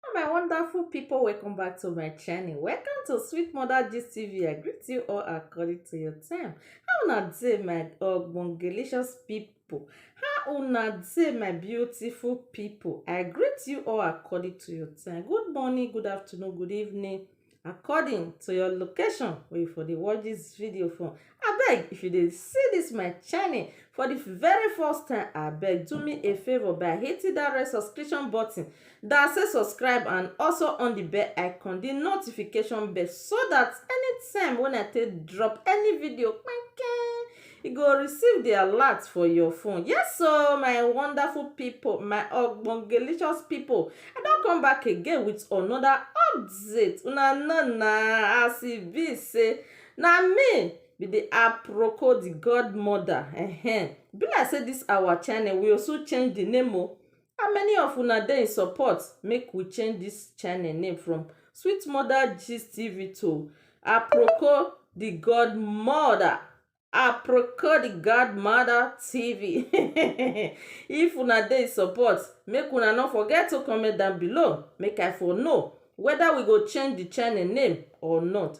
Hello my wonderful people, welcome back to my channel. Welcome to Sweet Mother Gist TV. I greet you all according to your time. How una dey my ogbongelicious people? How una dey my beautiful people? I greet you all according to your time. Good morning, good afternoon, good evening. according to your location wey you for dey watch dis video from. Abeg if you dey see dis my channel for the very first time, abeg do me a favour by hitting that red subscription button that say subscribe and also on the bell icon, the notification bell so that anytime when I take drop any video kpai-kpai You go receive the alert for your phone. Yes o my wonderful people, my ogbongelicious people. I don come back again with another update. Una know na as e be say na me be the aproko the godmother. Ehen. Be like say this our channel we also change the name o. How many of una dey in support make we change this channel name from sweet mother gist tv to aproko the god mother aproko the god mother tv if una dey in support make una no forget to comment down below make i for know whether we go change the channel name or not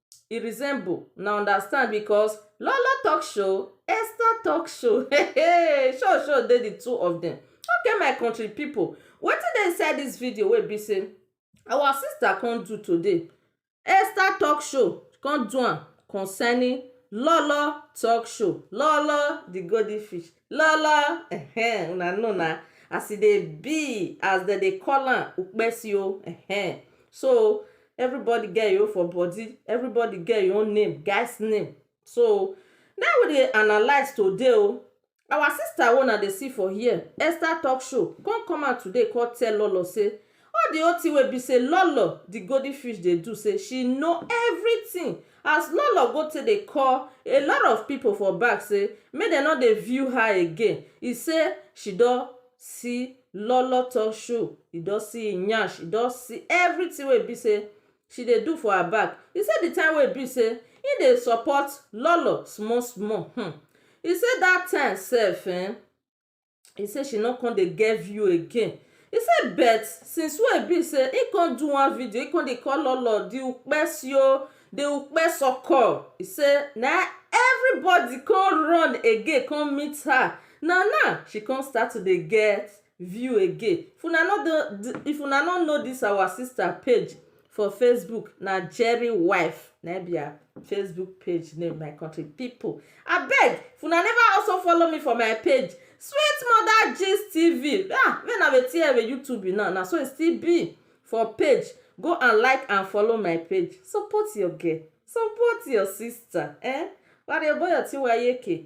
e resemble una understand because lolo talk show Esther talk show hey show show dey the two of them okay my country people wetin dey inside this video wey be say our sister come do today Esther talk show come do am concerning lolo talk show lolo the golden fish Lala ehen una know na as e dey be as dem dey call am ukpesi o ehen so everybody get him own for body everybody get him own name guys name so na him we dey analyse today o our sister wey una dey see for here Esther talk show come come out today come tell all us say All the whole thing wey be say Lolo the golden fish dey do say she know everything as Lolo go take dey call a lot of people for back say make dem no dey view her again e say she don see Lolo talk show e don see him nyash e don see everything wey be say she dey do for her back e say the time wey be say him dey support Lolo small small hmmm e say that time sef ehn e say she no come dey get view again e say but since wey e be say e come do one video e come dey call lolo the ukpe sio the ukpe soko e say na everybody come run again come meet her na now she come start to dey get view again if una no know this our sister page for facebook na jerry wife na im be her facebook page name my country people abeg if una never also follow me for my page sweet mother gist tv ah make na wetin ewe youtube be now na so e still be for page go and like and follow my page support your girl support your sister eh warrior boy otiwayeke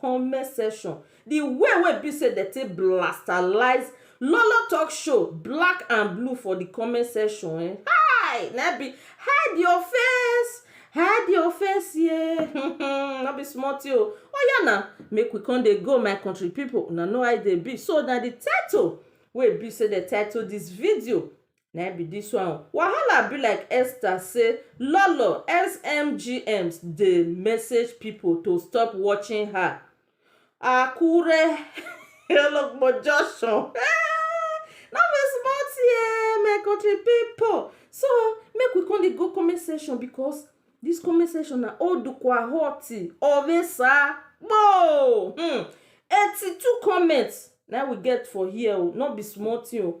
comment section the way wey be say dem take blastalize lolo talk show black and blue for the comment section eh hi na im be hide your face hide your face ye um no be small thing o oya na make we come dey go my country people una know how e dey be so na the title wey be say dem title this video na im be this one o. Wahala be like Esther say Lolo SMGMs dey message people to stop watching her Akure Ologbo junction eeh no be small thing eeh my country people so make we come dey go comment section because this comment section na odukwa hot oresa kpoo hmm eighty two comments na im we get for here o no be small thing o.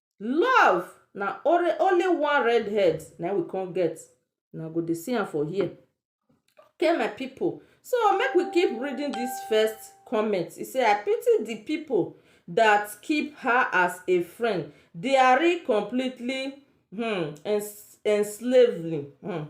Love na only only one red head na im we come get. Una go dey see am for here. Okay my pipu, so make we keep reading dis first comment. E say, “I pity the pipu dat keep her as a friend. Diary completely um enslavely um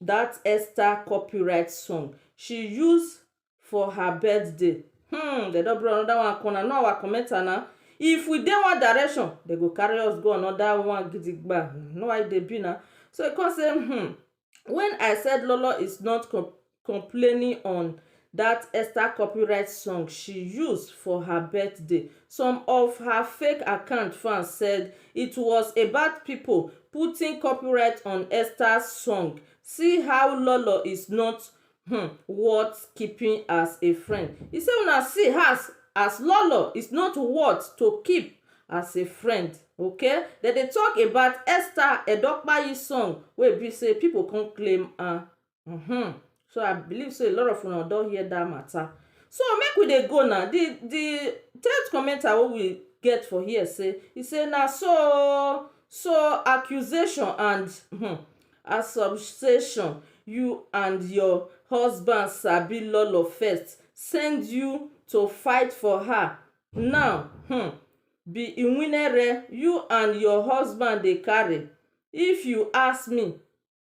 that Esther copyright song she use for her birthday. Hmm, they don't bring another one corner. No, our commenter now. If we dey one direction, they go carry us go another one gidigba. No, why they be now? So he come say, hmm, when I said Lolo is not com complaining on that Esther copyright song she used for her birthday. Some of her fake account fans said it was about people putting copyright on Esther's song. See how Lolo is not hmm, worth keeping as a friend. He said, una see as, as Lolo is not worth to keep as a friend okay dem dey talk about esther edokpayi song wey be say people come claim am um so I believe sey a lot of una don hear dat matter so make we dey go na de de third commenter wey we get for here sey e sey na so oo so accusation and um assumption you and your husband sabi lolo first send you to fight for her now um be iwinere you and your husband dey carry if you ask me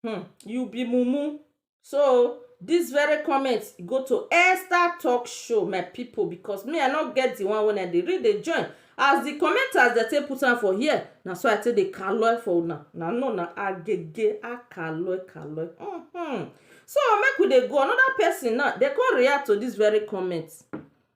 Hmm, you be mumu. So this very comment go to Esther Talk Show, my people, because me I not get the one when I dey read the join. As the commenters they take put am for here, na so I take dey kaloi for una. Na no na agege a kaloi kaloi. Mm-hmm. So make we dey go another person now. They come react to this very comment.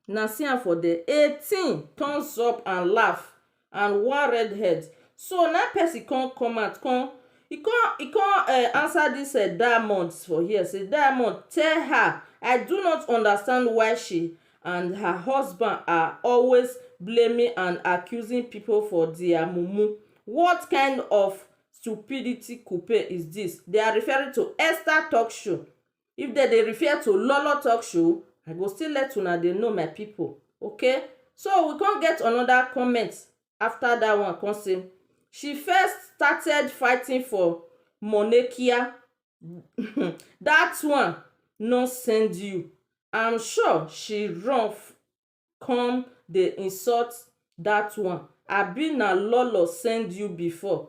Na see am for there. 18 thumbs up and laugh. and one red head so na person come come out come e come e come um answer this um diamond for here say diamond tell her I do not understand why she and her husband are always blaming and accusing people for their mumu what kind of stupidity kupe is this they are referring to Esther talk show if dem dey refer to lolo talk show I go still let una dey know my people okay so we come get another comment after that one come say she first started fighting for monekia um that one no send you I'm sure she run come dey insult that one abi na lolo send you before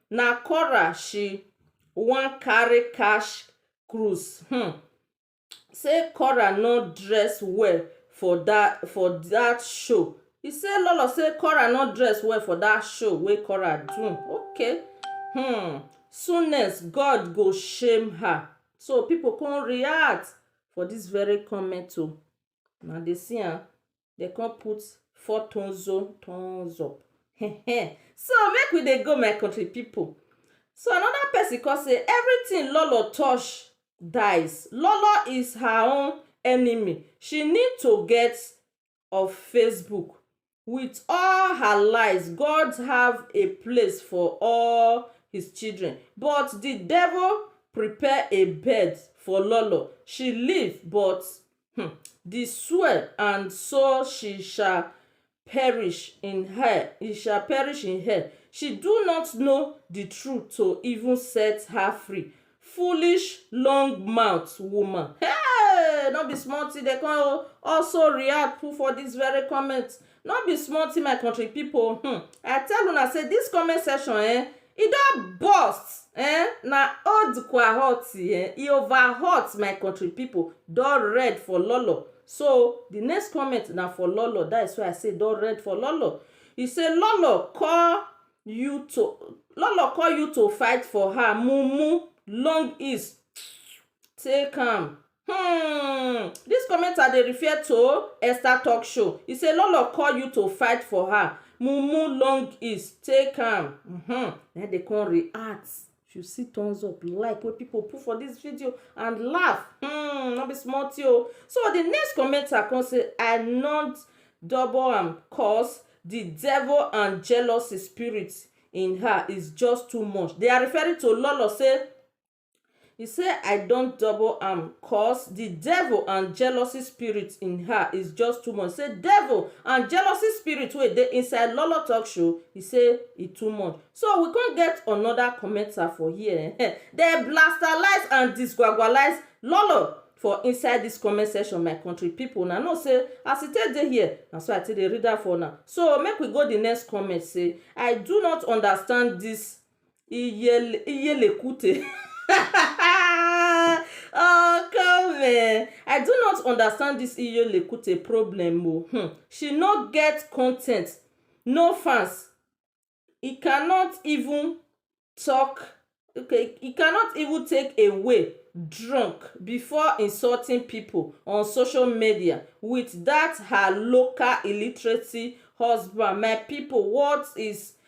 na quarrel she wan carry catch cruise um say quarrel no dress well for that for that show e say lolo say quarrel no dress well for that show wey quarrel do okay um soonest God go shame her so people come react for this very comment o una dey see am. dem come put four thumbs up thumbs up so make we dey go my country people so another person come say everything lolo touch dies lolo is her own enemy she need to get of facebook with all her lies god have a place for all his children but the devil prepare a bed for lolo she live but um di sword and so she shall perish in her e shall perish in hell she do not know di truth to even set her free foolish long mouth woman hey no be small thing dey come also react put for this very comment no be small thing my country people hmm i tell una say this comment section eh E don burst eh na old kwahot eh e over hot my country people don red for lolo so the next comment na for lolo that is why i say e don red for lolo e say lolo call you to lolo call you to fight for her mumu long is take am. Hmm, dis commenter dey refer to Esther talk show. He say Lolo call you to fight for her. Mumu long is take am. Mm-hmm. Then they come react. If you see thumbs up, like wey people put for this video and laugh, hmm, no be small thing o. So the next commenter come say I not double am cause the devil and jealousy spirit in her is just too much. They are referring to Lolo say He said, I don't double am cause the devil and jealousy spirit in her is just too much. He said, devil and jealousy spirit wey dey inside Lolo Talk Show, he said, e too much. So we can't get another commenter for here. Eh? They blastalize and disguagualize Lolo for inside this comment section, my country people. Now, no say, as it take dey here, na so I take dey read am for now. So make we go the next comment say, I do not understand this Iyele, Iyelekute. oh come eh, I do not understand this Iyelekute problem o, hmm, she no get content, no fans, e cannot even talk, okay, e cannot even take a way drunk before insulting people on social media with that her local illiteracy husband, my people what is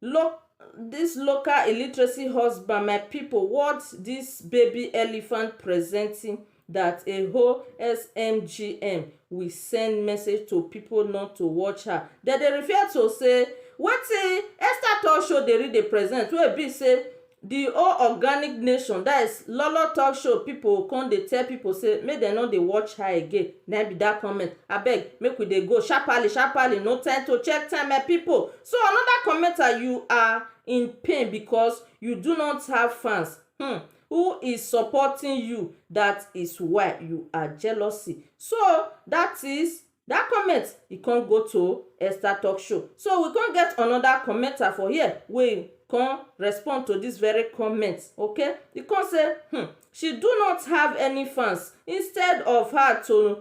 Look this local illiteracy husband my people what this baby elephant presenting that a whole SMGM we send message to people not to watch her. Dem dey refer to say wetin Esther Talk Show dey read dey present wey be say The all organic nation that is lolo talk show people come dey tell people say make dem no dey watch her again na im be that comment abeg make we dey go sharparly sharparly no time to check time my people so another commenter you are in pain because you do not have fans hmm who is supporting you that is why you are jealousy so that is Dat comment e come go to Esther Talk Show. So we come get another commenter for here wey come respond to this very comment. Okay, e come say, hmm, she do not have any fans. Instead of her to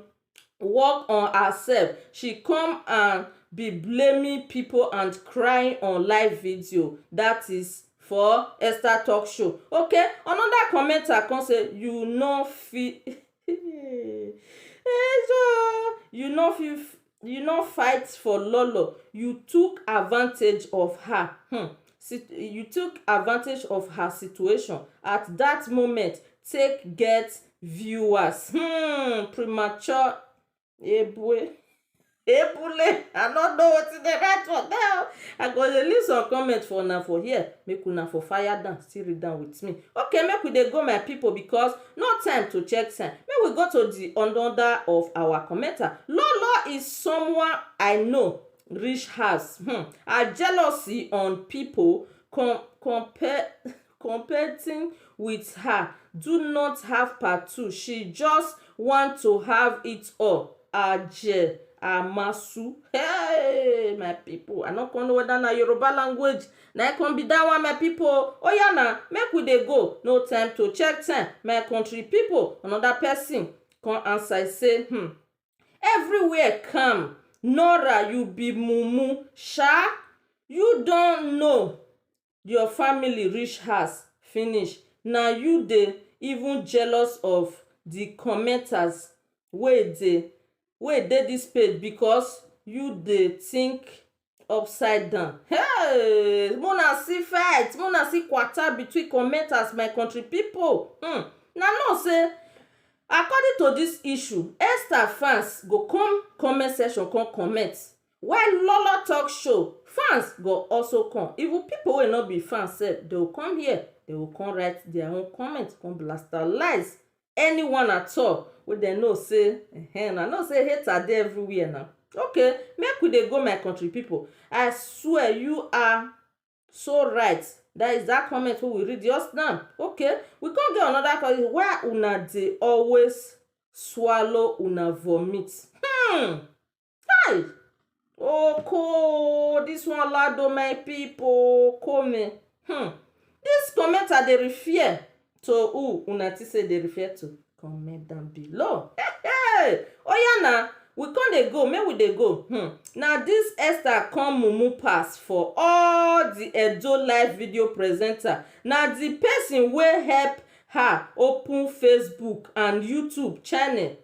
work on herself, she come and be blaming people and crying on live video. That is for Esther Talk Show. Okay, another commenter come say, you no fit you no fit you no fight for lolo you took advantage of her um you took advantage of her situation at that moment take get viewers um premature Ebue. Ebule. I no know wetin dey write for there. I go dey leave some comment for una for here. Make una for fire down, still read am with me. Okay, make we dey go my people because no time to check time. Make we go to the another of our commenter. Lolo is someone I know reach house. Hmm. Her jealousy on people com compare competing with her do not have part two she just want to have it all aje amasu hey my people i no come know whether na yoruba language na e come be that one my people oh oya na make we dey go no time to check time my country people another person come answer say hmm everywhere calm nora you be mumu sha you don know your family reach house finish na you dey even jealous of the commenters wey dey wey dey this page because you dey think upside down hey make una see fight make una see kwata between commenters my country people hmm una know say according to this issue Esther fans go come comment section come comment While Lolo talk show, fans go also come, even people wey no be fans sef, they will come here, they will come write their own comment, come blastalize anyone at all wey dem know say ehen, una know say hater dey everywhere na. Okay, make we dey go my country people, I swear you are so right, that is that comment wey we read just now, okay, we come get another comment, why una dey always swallow una vomit? Hmm! Kai! Oko o, dis one loud o my pipu o, oko me hmm. Dis comment I dey refer to who una think sey I dey refer to? Comment down below. Hey! Oya na, we come dey go, make we dey go hmm. Na dis Esther come mumu pass for all the Edo live video presenter. Na the person wey help her open Facebook and YouTube channel.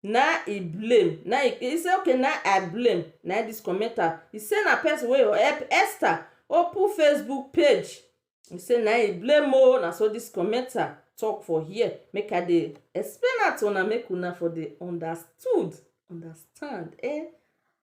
na e blame na e he say okay na i blame na e this commenter he say na person wey go help Esther open facebook page he say na e blame o na so this commenter talk for here make i dey explain am to una make una for dey understood understand eh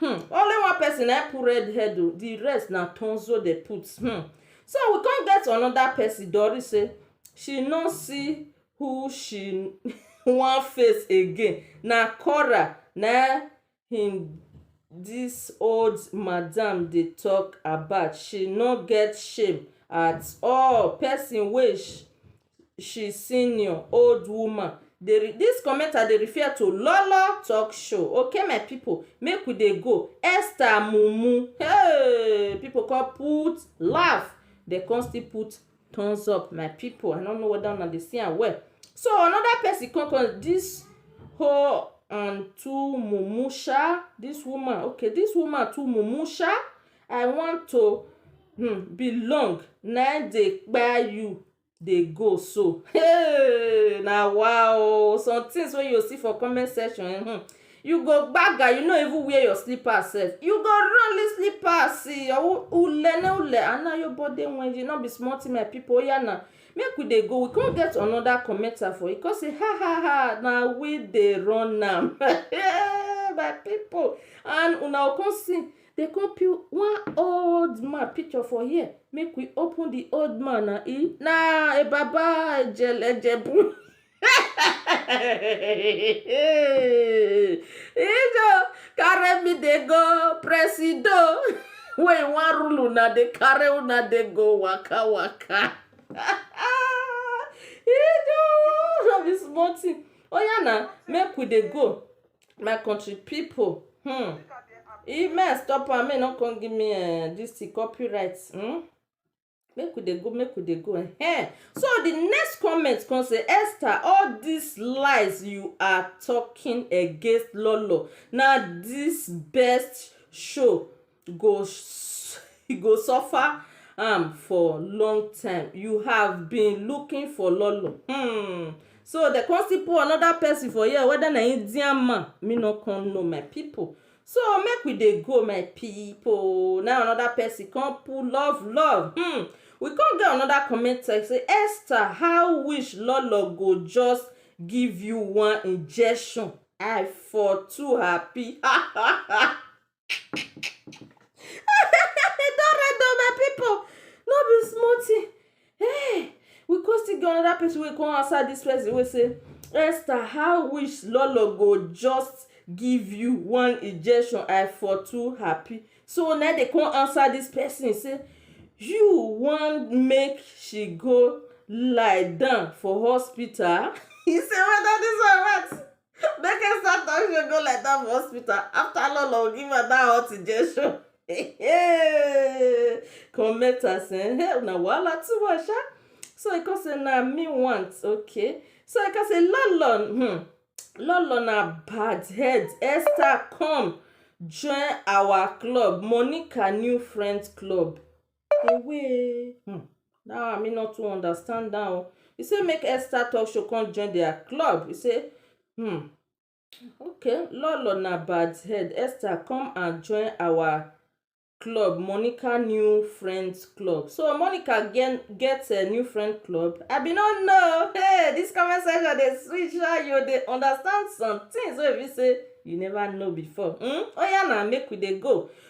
Hmm only one person na im put red head oh the rest na tonzo dem put hmm so we come get another person Doris say she no see who she wan face again na quarrel na im this old madam dey talk about she no get shame at all person wey she senior old woman dey this commenter dey refer to lolo talk show okay my people make we dey go esther mumu hey people come put laugh dem come still put thumbs up my people i no know whether una dey see am well so another person come come this whole and two mumu sha this woman okay this woman too mumu sha i want to um belong na im dey kpai you dey go so hey na wa o some things wey you see for comment section um you go gbaga you no even wear your slippers sef you go run leave slippers see your ule na ule and na your body wenji no be small thing my people oya na make we dey go we come get another commenter for you come say ha ha ha na we dey run am my people and una go come see They come put one old man picture for here. Make we open the old man na e na a baba ejelejebu. Ijo carry me dey go presido. Wey wan rule una dey carry una dey go waka waka. Ijo no be small thing. Oya na make we dey go. my country people hmm e may i stop am may no come give me uh, this thing copyright hmm? make we dey go make we dey go eh so the next comment come say esther all these lies you are talking against lolo na this best show go go suffer am for long time you have been looking for lolo hmm so dem come still put another person for here whether na Indian man me no come know my people so make we dey go my people na another person come put love love hmm we come get another comment text say Esther how wish lolo go just give you one injection I for too happy ha ha ha. e don red o my pipu no be small tin um we kon still get anoda pesin wey kon ansa dis pesin wey say Esther how wish lolo go just give you one injection I for too happy so nai dey kon ansa dis pesin say you wan make she go lie down for hospital he say weda dis one ret. Make her start down she go like that for hospital. After all, I'll give her that hot injection. Hey, comment us, eh? Hey, una wahala too much, ah. So I can say, na me want, okay. So I can say, Lolon, hmm, Lolon na bad head. Esther, come join our club, Monica New Friends Club. Ewee um that one me no too understand am o. E say make Esther talk show come join their club. E say um okay Lolo na bad head Esther come and join our club Monica new friends club. So Monica get get um new friend club? I be no know o hey this comment section dey sweet sha you dey understand somethings wey e be sey you never know before um. Oya na make we dey go.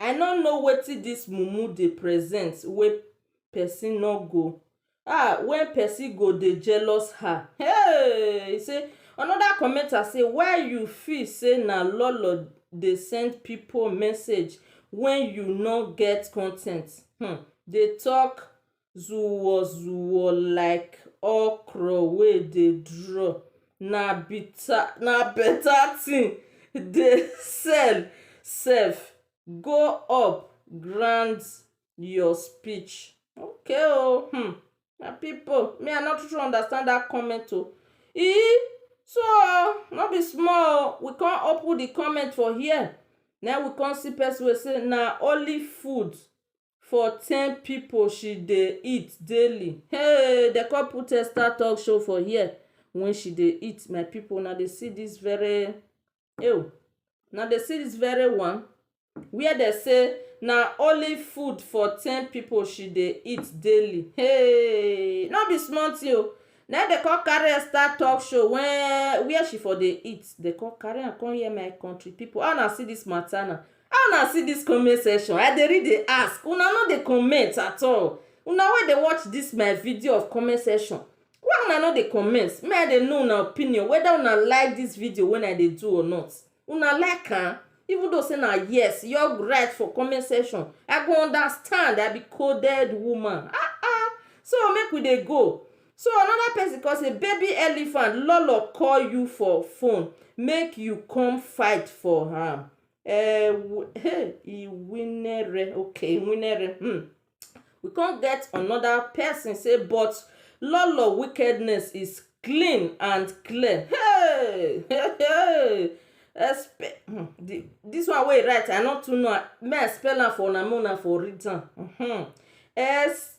I no know wetin this mumu dey present wey person no go ah wey person go dey jealous her hey e say another commenter say why you feel say na lolo dey send people message when you no get content um dey talk zuwo zuwo like okro wey dey draw na bitter na better thing dey sell sef go up grand your speech okay o um my people me i no too too understand that comment o ee so no be small o we come open the comment for here na we come see person wey say na only food for ten people she dey eat daily hey dem come put extra talk show for here when she dey eat my people una dey see this very ew una dey see this very one where dem say na only food for ten people she dey eat daily hey no be small thing o na im dem come carry am start talk show when where she for dey eat dem come carry am come here my country people how una see this matter na. How una see this comment section I dey read dey ask una no dey comment at all una wey dey watch this my video of comment section why una no dey comment make I dey know una opinion whether una like this video wey I dey do or not una like am even though say na yes you all write for comment section I go understand I be coded woman ah ah so make we dey go so another person come say baby elephant lolo call you for phone make you come fight for am eh, hey, e winere okay winere hmm. we can't get another person say but lolo wickedness is clean and clear hey hey hey Espe hmm, the, this one way right i not too know may i spell am for una for read am hmm. s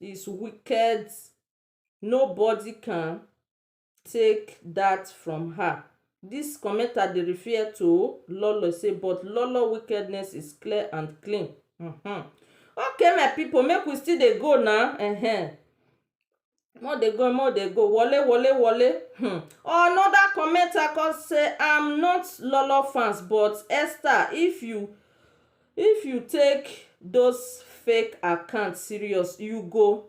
is wicked nobody can take that from her this commenter dey refer to lolo say but lolo wickedness is clear and clean mm-hmm. okay my people make we still dey go now uh-huh. more dey go more dey go wole wole wole hmm. another commenter come say i'm not lolo fans but esther if you If you take those fake account serious you go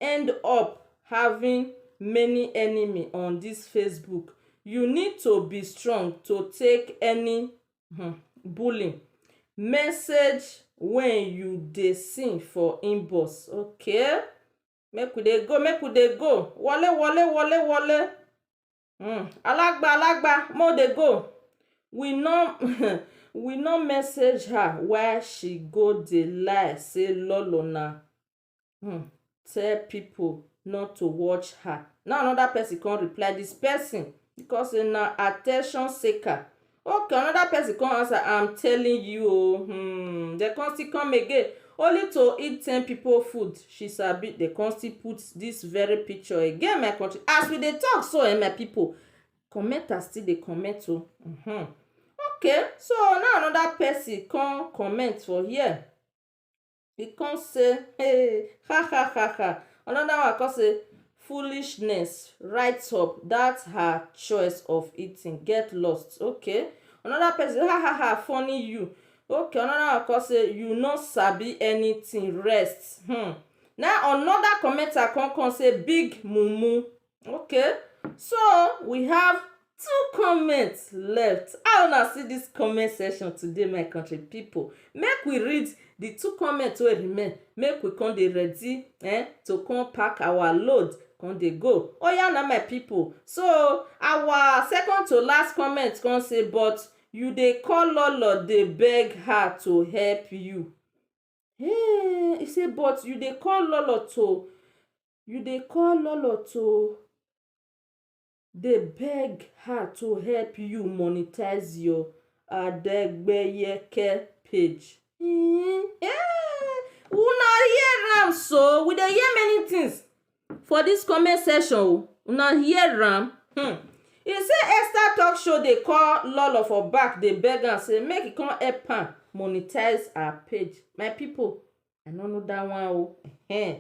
end up having many enemy on this Facebook you need to be strong to take any um bullying message when you dey see for inbox okay make we dey go make we dey go wole wole wole wole. um alagba alagba make we dey go we no um we no message her why she go dey lie say lolo na um tell people not to watch her na another person come reply this person because say na at ten tion seeker Okay another person come answer I'm telling you o hmm dem come still come again only to eat ten people food she sabi dem come still put this very picture again my country as we dey talk so um my people commenters still dey comment o hmm okay so now another person come comment for here e come say hey ha ha ha ha another one come say foolishness right up that her choice of eating get lost okay another person say ha ha ha funny you okay another one come say you no sabi anything rest hmm na another commenter come come say big mumu Okay so we have two comment left how una see this comment section today my country people make we read the two comment wey remain make we come dey ready eh to come pack our load come dey go oya na my people so our second to last comment come say but you dey call lolo dey beg her to help you him say but you dey call lolo to You dey call Lolo to dey beg her to help you monetize your Adegbeyeke page. Mm, eh, una hear am so, we dey hear many things for this comment section o, una hear am. Hmm. He say Esther talk show dey call Lolo for back dey beg am say make he come help am monetize her page. My people, I no know that one o. Eh.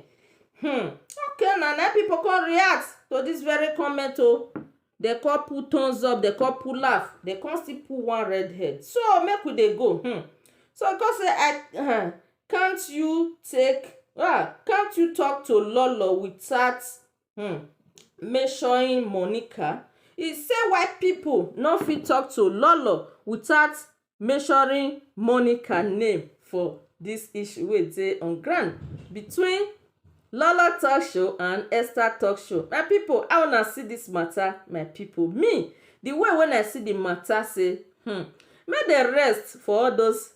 Hmm. Okay, na na people come react to this very comment o. They come put thumbs up, they come put laugh, they come still put one red head. So make we dey go. Hmm. So come say I uh, can't you take ah can't you talk to Lolo without hmm, mentioning Monica? He say why people no fit talk to Lolo without mentioning Monica name for dis issue wey dey on ground between Lola talk show and Esther talk show. My pipu how una see dis matter my pipu? Me the way wey I see the matter say hmm make dem rest for all those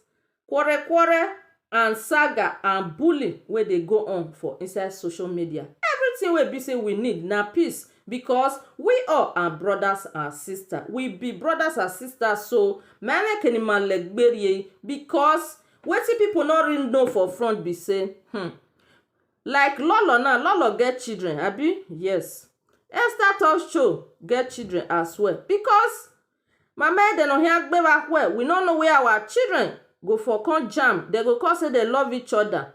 quarrel quarrel and saga and bully wey dey go on for inside social media. Everything wey e be say we need na peace Because we all are brothers and sisters. We be brothers and sisters so mele kenima legberie because wetin people no really know for front be say hmm, like Lolo now, Lolo get children abi? Yes. Esther Top Show get children as well because mama ede no hear gbeva well we no know where our children go for come jam dem go come say dem love each other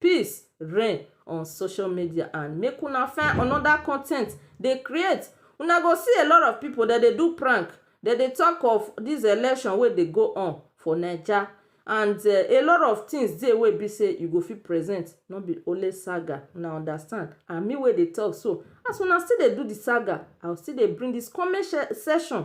peace reign on social media and make una find another content dey create una go see a lot of people dem dey do prank dem dey talk of this election wey dey go on for naija and eh, a lot of things dey wey be say you go fit present no be only saga una understand and me wey dey talk so as una still dey do the saga i go still dey bring this comment section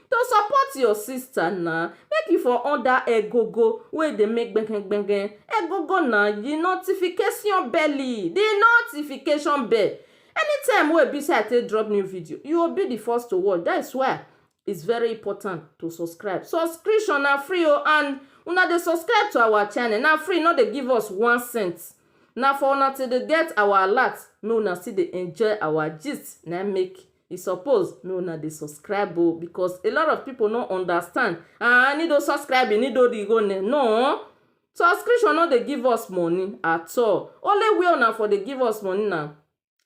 to support your sister na make you for on that egogo wey dey make gbegen gbegen egogo na the notification belly the notification bell anytime wey be say I take drop new video you go be the first to watch that is why is very important to subscribe subscription na free o and una dey subscribe to our channel na free no dey give us one cent na for una to dey get our alert make una still dey enjoy our gist na make e suppose make una dey subscribe o because a lot of people no understand ah ni do subscribe ni do di go ne no subscription no dey give us money at all only where una for dey give us money na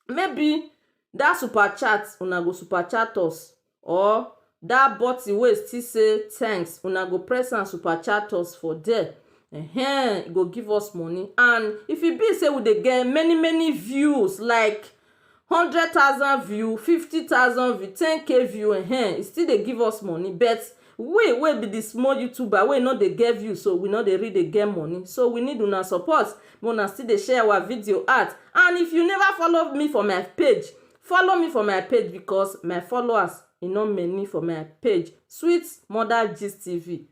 maybe that super chat una go super chat us or that button wey still say thanks una go press am super chat us for there ehen e go give us money and if e be say we dey get many many views like hundred thousand view, fifty thousand view, ten k view um e still dey give us money but we wey be the small youtuber wey no dey get view so we no dey really dey get money so we need una support make una still dey share our video out and if you never follow me for my page follow me for my page because my followers e no many for my page sweet mother gist tv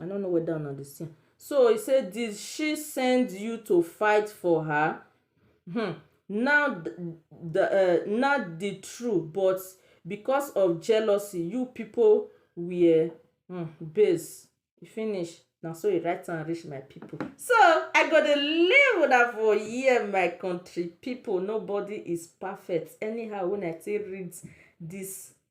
I no know whether una dey see am. So he say, Did she send you to fight for her? Hmm. Now the uh, now the true, but because of jealousy, you people were hmm, base. E finish. Na so he write am reach my people. So I go dey leave una for here, my country people. Nobody is perfect. Anyhow, when I take read this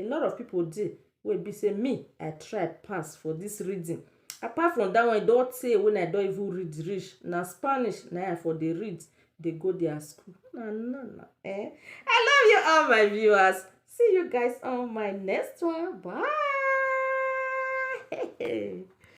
a lot of people dey wey be say me I try pass for this reading apart from that one e don tey when I don even read reach na Spanish na I for dey read dey go their school na no na eh I love you all my viewers see you guys on my next one bye